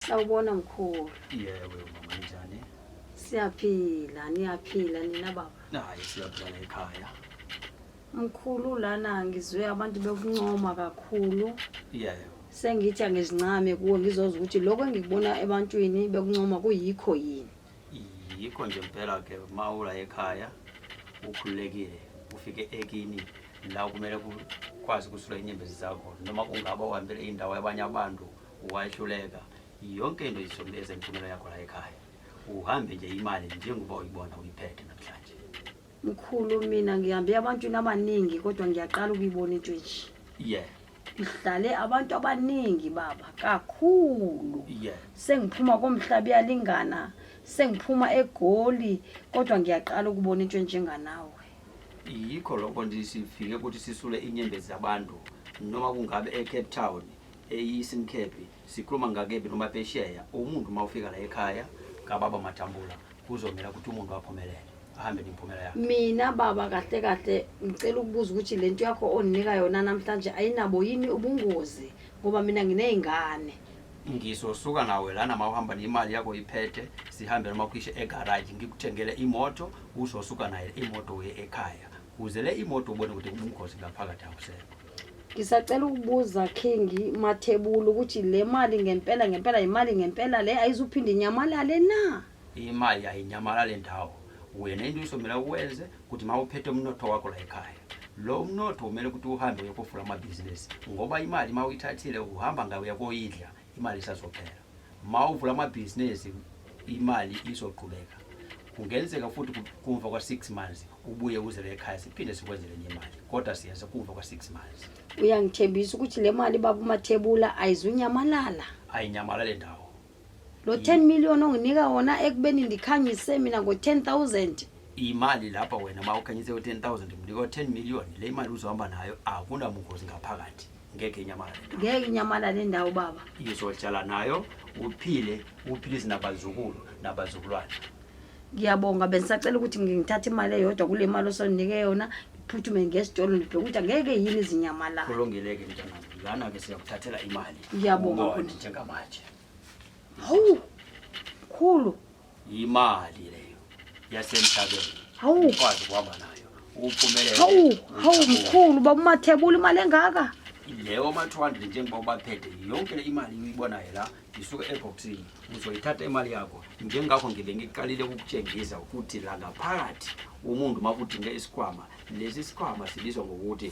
Sawubona mkhulu. Yebo mama njani? Siyaphila, niyaphila nina baba. Naye siyaphila ekhaya. Mkhulu lana ngizwe abantu bekuncoma kakhulu. Yebo. Sengithi angizincame kuwe ngizoza ukuthi lokho engikubona ebantwini bekuncoma kuyikho yini. Yikho nje impela ke mawula ekhaya ukhululekile ufike ekini la kumele kwazi kusula inyembezi zakho noma kungaba uhambele indawo yabanye abantu Wahluleka yonke into izombeza imfunelo yakho la ekhaya. Uhambe nje imali njengoba uyibona uyiphethe namhlanje. Mkhulu mina ngihambe abantwini abaningi kodwa ngiyaqala ukuyibona into enje. Yeah. Ngihlale abantu abaningi baba kakhulu. Yeah. Sengiphuma komhlaba iyalingana, sengiphuma egoli kodwa ngiyaqala ukubona into enjenganawe. Yikho lokho nje sifike ukuthi sisule inyembezi zabantu noma kungabe eCape Town eyi simkhephi sikhuluma ngakephi noma pesheya umuntu uma ufika la ekhaya kababa matambula kuzomela ukuthi umuntu aphumelele ahambe nemphumela yakhe mina baba kahle kahle ngicela ukubuza ukuthi le nto yakho ondinika yona namhlanje ayinabo yini ubungozi ngoba mina nginey'ngane ngizosuka nawe lana ma uhamba nemali yakho iphethe sihambe noma kuyishe egaraji ngikuthengele imoto uzosuka naye imoto uye ekhaya kuze le imoto ubone ukuthi ubungozi ngaphakathi awusekho Ngisacela ukubuza King Mathebula ukuthi le mali ngempela ngempela imali ngempela le ayizuphinde inyamalale na? Imali ayinyamalale ndawo. Wena into usomele ukwenze ukuthi mawuphethe umnotho wakho la ekhaya. Lo mnotho umele ukuthi uhambe uyokufula amabhizinisi ngoba imali mawuyithathile uhamba ngayo uyakoyidla imali isazophela ma uvula amabhizinisi imali izoqhubeka kungenzeka futhi kumva kwa-six months ubuye uzele ekhaya siphinde sikwenzele enye imali kodwa siyenza kumva kwa-six months uyangithembisa ukuthi le mali baba umathebula ayizunyamalala ayinyamalala le ndawo lo 10 million onginika wona ekubeni ndikhanyise mina ngo-10 thousand imali lapha wena ma ukhanyise u-10 thousand mnika u-10 million le imali uzohamba nayo akunabungozi ngaphakathi ngeke inyamalale ngeke inyamalale indawo baba izohlala nayo uphile uphilise nabazukulu nabazulwane ngiyabonga bendisacela ukuthi ngithathe imali eyodwa kule mali osondinike yona ngiphuthume ngesitolo ndibheke ukuthi angeke yini izinyamalala kulungile-ke mntanam lana ke siyakuthathela imali ngiyabonga njengamanje hawu khulu yimali leyo yasemhlabeni Hawu. ukwazi ukuhamba nayo uphumelele hawu hawu mkhulu baba umathebula imali engaka leyo ma-200 njengoba ubaphethe yonke le imali uyibonayo la isuke ebhoksini uzoyithatha imali yakho njengakho ngibe ngiqalile ukukutshengisa ukuthi la ngaphakathi umuntu uma kudinge isikhwama lesi sikhwama sibizwa ngokuthi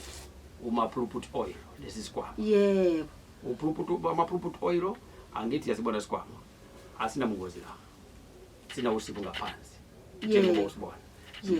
umaphuluput oil lesi sikhwama yebo uphuluput amaphuluput oil angithi yasibona isikhwama asinabungozi la sinawusibu ngaphansi njengoba usibona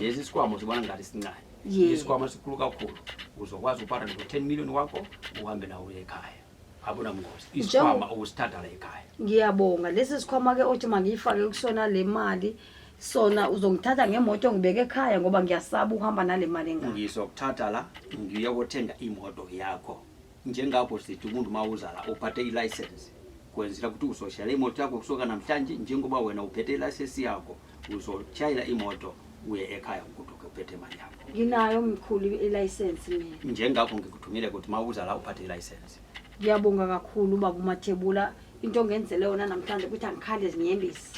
lezi isikwama usibona ngathi sincane isikwama sikhulu kakhulu uzokwazi ukupata no 10 million wakho uhambe nawo uye ekhaya abunamngozi isikhwama okusithatha la ekhaya ngiyabonga lesi sikhwama ke othi mangiyifake kusona le mali sona uzongithatha ngemoto ngibeke ekhaya ngoba ngiyasaba ukuhamba nale mali engaka ngizokuthatha la ngiyokuthenga imoto yakho Njengakho sithi umuntu uma uzala uphathe ilayisensi kwenzela ukuthi uzoshayela imoto yakho kusuka namhlanje njengoba wena uphethe ilayisensi yakho uzoshayela imoto uye ekhaya ugoduke uphethe imali yakho nginayo mkhulu ilayisensi mina njengakho ngikuthumile ukuthi uma uzala uphathe ilayisensi ngiyabonga kakhulu baba umathebula into ongenzele yona namhlanje ukuthi angikhale zinyembisi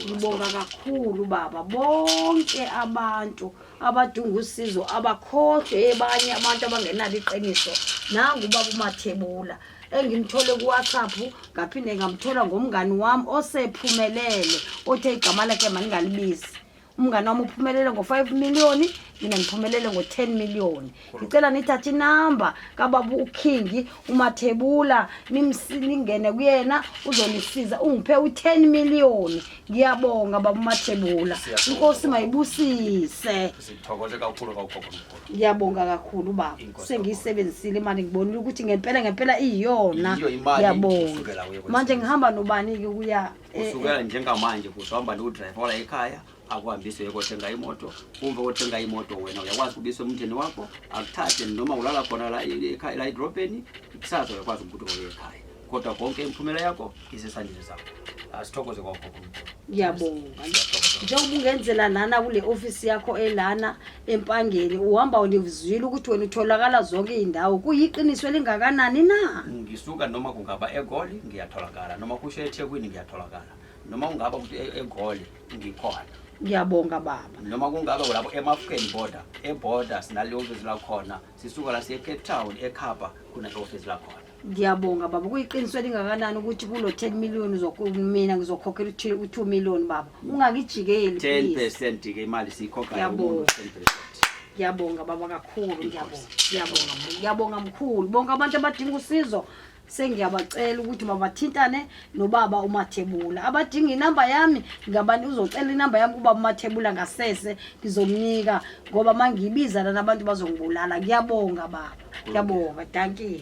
ngibonga kakhulu baba bonke abantu abadunga usizo abakhohlwe ebanye abantu abangenalo iqiniso nangu ubaba umathebula engimthole kuwhatsapp ngaphinde ngamthola ngomngani wami osephumelele othe igama lakhe mandingalibizi umngane wami uphumelele ngo-five million mina ngiphumelele ngo-ten million ngicela nithathe inamba kababa ukhingi umathebula ningene kuyena uzonisiza ungiphe u-ten million ngiyabonga baba umathebula inkosi mayibusise ngiyabonga kakhulu baba sengiyisebenzisile imali ngibonile ukuthi ngempela ngempela iyiyona ngiyabonga manje ngihamba nobani-ke kuya Kusukela njengamanje kuzohamba lo driver wala ekhaya akuhambise uyekothenga imoto umva kothenga imoto wena uyakwazi ukubisa umndeni wakho akuthathe noma ulala khona la ekhaya la edrobheni kusasa uyakwazi ukuthi uye ekhaya kodwa konke imphumela yakho isesandleni sakho asithokoze kwakhokho ngiyabonga njengoba ungenzela lana kule ofisi yakho elana empangeni uhamba univuzile ukuthi wena utholakala zonke izindawo kuyiqiniso elingakanani na ngisuka noma kungaba egoli ngiyatholakala noma kusho ethekwini ngiyatholakala noma kungaba ukuthi e-, egoli ngikhona ngiyabonga baba noma kungaba kulapho emafukeni border eborder sinaliyonke zilakhona sisuka la siye Cape Town eKhapha khona office lakhona ngiyabonga baba kuyiqiniso elingakanani ukuthi kulo 10 million mina ngizokhokhela uthile u2 million baba ungakijikeli 10% ke imali siyikhokha yabonga ngiyabonga baba kakhulu ngiyabonga ngiyabonga ngiyabonga mkhulu bonke abantu abadinga usizo sengiyabacela ukuthi babathintane nobaba umathebula abadinga inamba yami ngabani uzocela inamba yami kuba umathebula ngasese ngizomnika ngoba uma ngiyibiza lana abantu bazongibulala ngiyabonga baba ngiyabonga dankie